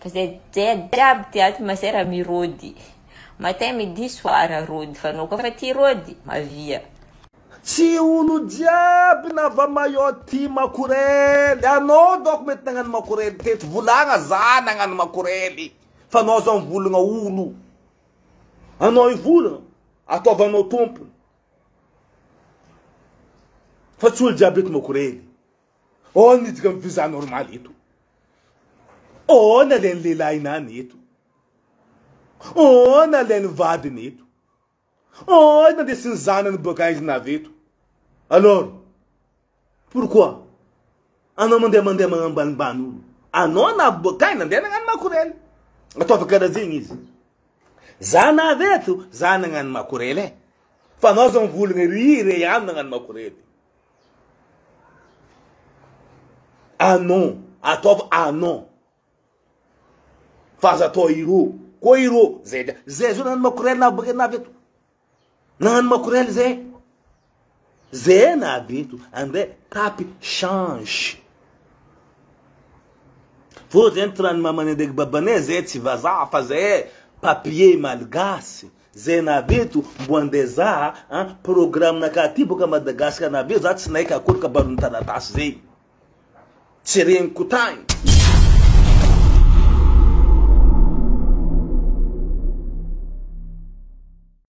Fa zay jiaby ty ato masera mirody matin midi soir rody fa anao koa fa tia rody mavia. Tsy olo jiaby nava maillot tia makorely, anao donc mety nagnano makorely teto, volagna za nagnano makorely fa anao zao mivolagna olo, anao hivolagna ataovanao tompony fa tsy olo jiaby eto makorely. Aona itsika mi visa normal eto? Aona lay lehilahinany eto? Aona lay ny vadiny eto? Aona ndesin'ny zanany boaka aiza na avy eto? Alors, pourquoi? Anao mandeha mandeha magnambanimbany olo. Anao na avy boaka aiza nandeha nagnano makorely. Ataovy karazigny izy. Za na avy eto, za nagnano makorely e. Fa anao zao mivolagna ry re ihany nagnano makorely. Ah non, ataovy ah non. Fa aza atao irô. Koa irô zay zay zao nany makorel na bakena avy eto. Nany makorel zay. Zay na avy eto. André tapy change. Fô zay ny tiran'ny mamanay ndraiky babanay zay tsy vazaha fa zay papier malgasy. Zay navy eto mbo andeha zaha an programme naka aty boka Madagascar navy eo zaha tsy naika akory kabaro ny taratasy zay tsy reniko tagny.